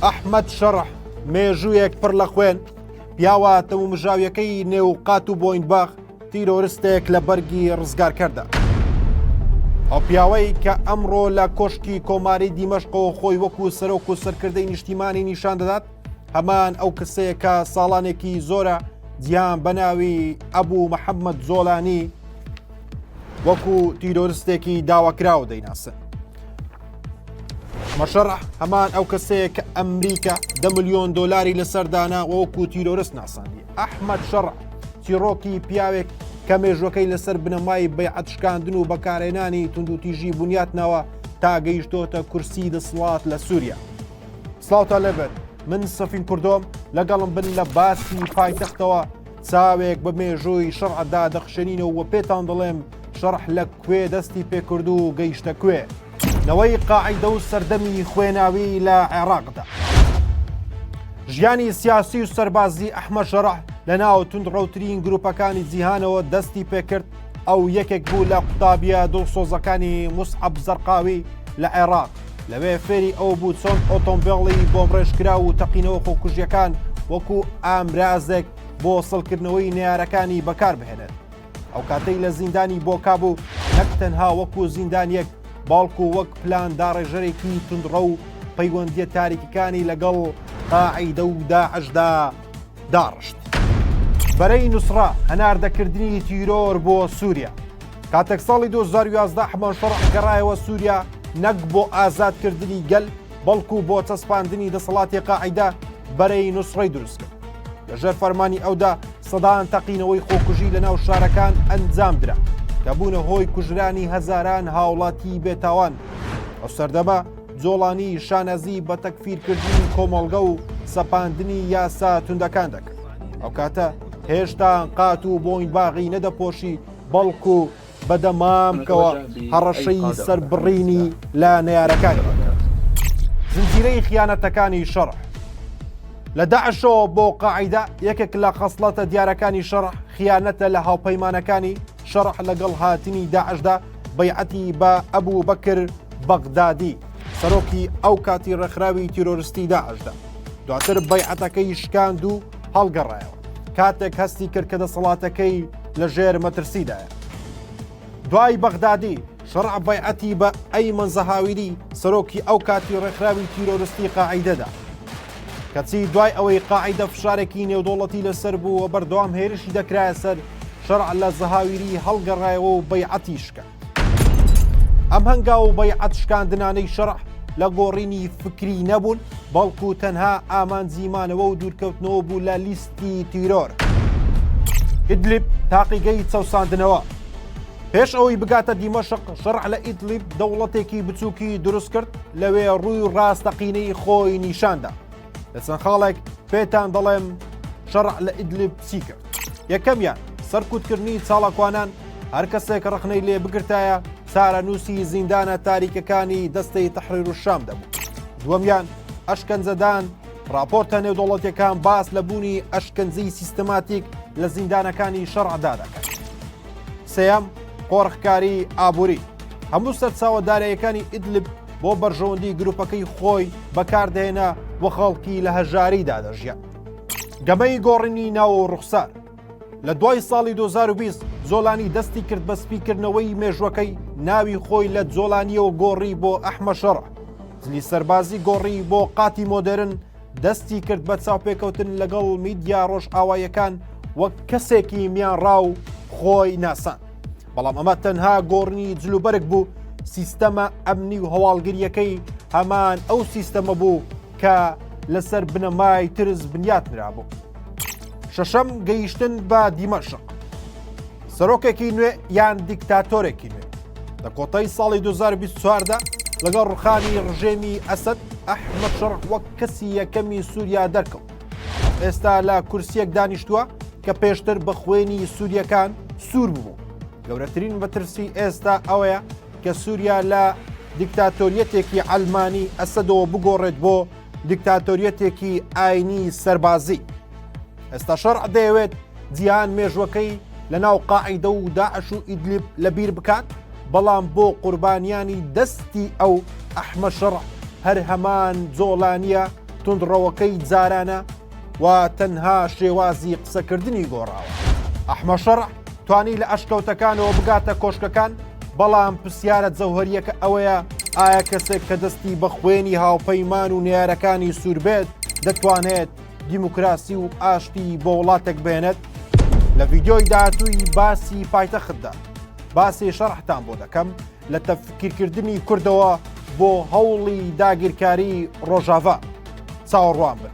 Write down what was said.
ئەحمەد شەڕح مێژوویەک پڕ لە خوێن پیاوە تەومژاویەکەی نێو قات و بۆینباخ تیرۆرستێک لە بەرگی ڕزگارکەدا. ئەو پیاوەی کە ئەمڕۆ لە کۆشکی کۆماری دیمەشقەوە خۆی وەکو سەرۆک و سەرکردەی نیشتیمانی نیشان دەدات هەمان ئەو کەسەیە کە ساڵانێکی زۆرە جیان بەناوی ئەبوو محەممەد زۆلانی وەکو تیرۆرستێکی داواکراوە دەیناسن مەشەڕە هەمان ئەو کەسەیە کە ئەمریکا دە ملیۆن دۆلاری لەسەر دانا وەکو تیرۆرست ناسانی ئەحمد شەڕ تیڕۆکی پیاوێک کە مێژوەکەی لەسەر بنەمای بەیعەت شکاندن و بەکارێنانی توندوتیژی بنیات ناوە تا گەیشتۆتە کورسی دەسڵات لە سووریا. سلااوتە لەبێت من سەفین کوردۆم لەگەڵم بن لە باسی پایتەختەوە چاوێک بە مێژووی شەڕعدا دەخشێنینەوە پێتان دەڵێم شەڕح لە کوێ دەستی پێکرد و گەیشتە کوێ نەوەی قاعدە و سەردەمی خوێناوی لە عێراقدا ژیانی سیاسی و سەربازی ئەحمە شەڕح لە ناو تونند ڕوترین گروپەکانی جیهانەوە دەستی پێکرد ئەو یەکێک بوو لە قوتابیە دڵسۆزەکانی مسعب زەرقاوی لە عێراق لەوێ فێری ئەو بوو چۆن ئۆتۆمبیڵی بۆم ڕێژکرا و تەقینەوە خۆکوژیەکان وەکو ئامرازێک بۆ سڵکردنەوەی نارەکانی بەکار بهێنێت ئەو کاتەی لە زیندانی بۆکا بوو نەک تەنها وەکو زیندانیەک باڵکو وەک پلان داڕێژەرێکی تونڕە و پەیوەندیە تاریکەکانی لەگەڵ قاعیدە و داعشدا داڕشت. بەرەی نووسڕە هەناردەکردنی تیرۆر بۆ سووریا کاتێک ساڵی 2011 حمان شەڕ گەڕایەوە سووریا نەک بۆ ئازادکردنی گەل بەڵکو بۆ چەسپاندنی دەسەڵاتی قاعیدە بەرەی نوسڕەی دروست کرد لە ژێر فەرمانی ئەودا سەدان تەقینەوەی خۆکوژی لە ناو شارەکان ئەنجام درا کە بوونە هۆی کوژرانی هەزاران هاوڵاتی بێتاوان ئەو سەردەمە جۆڵانی شانازی بە تەکفیرکردنی کۆمەڵگە و سەپاندنی یاسا توندەکان دەکرد ئەو کاتە هێشتا قات و بۆین باغی نەدەپۆشی بەڵکو بە دەمام کەوە هەڕەشەی سەر بڕینی لە نەیارەکانی زنجیرەی خیانەتەکانی شەڕ لە داعشەوە بۆ قاعیدا یەکێک لە خەسڵەتە دیارەکانی شەڕ خیانەتە لە هاوپەیمانەکانی شەڕح لەگەڵ هاتنی داعشدا بەیعەتی بە ئەبوو بەکر بەغدادی سەرۆکی ئەو کاتی ڕێکخراوی تیرۆرستی داعشدا دواتر بەیعەتەکەی شکاند و هەڵگەڕایەوە کاتێک هەستی کرد کە دەسەڵاتەکەی لە ژێر مەترسیدایە دوای بەغدادی شەڕع بەیعەتی بە ئەی منزەهاویری سەرۆکی ئەو کاتی ڕێکخراوی تیرۆرستی قاعیدەدا کەچی دوای ئەوەی قاعدە فشارێکی نێودوڵەتی لەسەر بوو و بەردەوام هێرشی دەکرایە سەر شەرع لە زەهاویری هەڵگەڕایەوە و بەیعەتیشکە ئەم هەنگاو و بەیعەت شکاندنانەی شەڕع لە گۆڕینی فکری نەبوون بەڵکو تەنها ئامانجی مانەوە و دوورکەوتنەوە بوو لە لیستی تیرۆر ئیدلیب تاقیگەی چەساندنەوە پێش ئەوەی بگاتە دیمەشق شەڕع لە ئیدلیب دەوڵەتێکی بچووکی دروست کرد لەوێ ڕووی ڕاستەقینەی خۆی نیشاندا لە چەند خاڵێک پێتان دەڵێم شەڕع لە ئیدلب چی کرد یەکەمیان سەرکوتکردنی چاڵکوانان هەر کەسێک ڕخنەی لێ بگرتایە چارەنووسی زیندانە تاریکەکانی دەستەی تەحریر و شام دەبوو دووەمیان ئەشکەنجەدان راپۆرتە نێودوڵەتەکان باس لە بوونی ئەشکنجی سیستماتیک لە زیندانەکانی شەڕعدا دەکات سێم قۆرخکاری ئابووری هەموو سەرچاوەدارەیەکانی ئیدلب بۆ بەرژەوەندی گروپەکەی خۆی بەکاردێنە و خەڵکی لە هەژاریدا دەژیان. گەمەی گۆڕینی ناوە و ڕوخسار لە دوای ساڵی 2020 زۆلانی دەستی کرد بە سپیکردنەوەی مێژوەکەی ناوی خۆی لە جۆلانیەوە گۆڕی بۆ ئەحمە شەڕ زلی سەربازی گۆڕی بۆ قاتی مۆدرن دەستی کرد بە چاوپێکەوتن لەگەڵ میدیا ڕۆژئاوایەکان وەک کەسێکی میانڕاو خۆی ناسان بەڵام ئەمە تەنها گۆڕنی جلوبەرگ بوو سیستەمە ئەمنی و هەواڵگریەکەی هەمان ئەو سیستەمە بوو کە لەسەر بنەمای ترس بنیات نرابوو شەشەم گەیشتن بە دیمەشق سەرۆکێکی نوێ یان دیکتاتۆرێکی نوێ لە کۆتای ساڵی 2024دا لەگەڵ ڕخانی ڕژێمی ئەسد ئەحمە شەڕ وەک کەسی یەکەمی سووریا دەرکەوت ئێستا لە کورسیەک دانیشتووە کە پێشتر بە خوێنی سووریەکان سوور بوو گەورەترین بەترسی ئێستا ئەوەیە کە سووریا لە دیکتاتۆریەتێکی ئەلمانی ئەسەدەوە بگۆڕێت بۆ دیکتاتۆریەتێکی ئاینی سەربازی ئێستا شەڕ دەیەوێت جیهان مێژوەکەی لە ناو قاعیدە و داعش و ئیدلیب لە بیر بکات بەڵام بۆ قوربانیانی دەستی ئەو ئەحمە شەڕ هەر هەمان جۆڵانیە توندڕەوەکەی جارانە و تەنها شێوازی قسەکردنی گۆڕاوە ئەحمە شەڕ توانی لە ئەشکەوتەکانەوە بگاتە کۆشکەکان بەڵام پرسیارە جەوهریەکە ئەوەیە ئایا کەسێک کە دەستی بە خوێنی هاوپەیمان و نارەکانی سووربێت دەتوانێت دیموکراسی و ئاشتی بۆ وڵاتێک بێنێت لە ڤیددیۆی داهاتووی باسی پایتەختدا باسی شەڕحتان بۆ دەکەم لە تەفکیرکردنی کوردەوە بۆ هەوڵی داگیرکاری ڕۆژاڤا چاوەڕوان بن.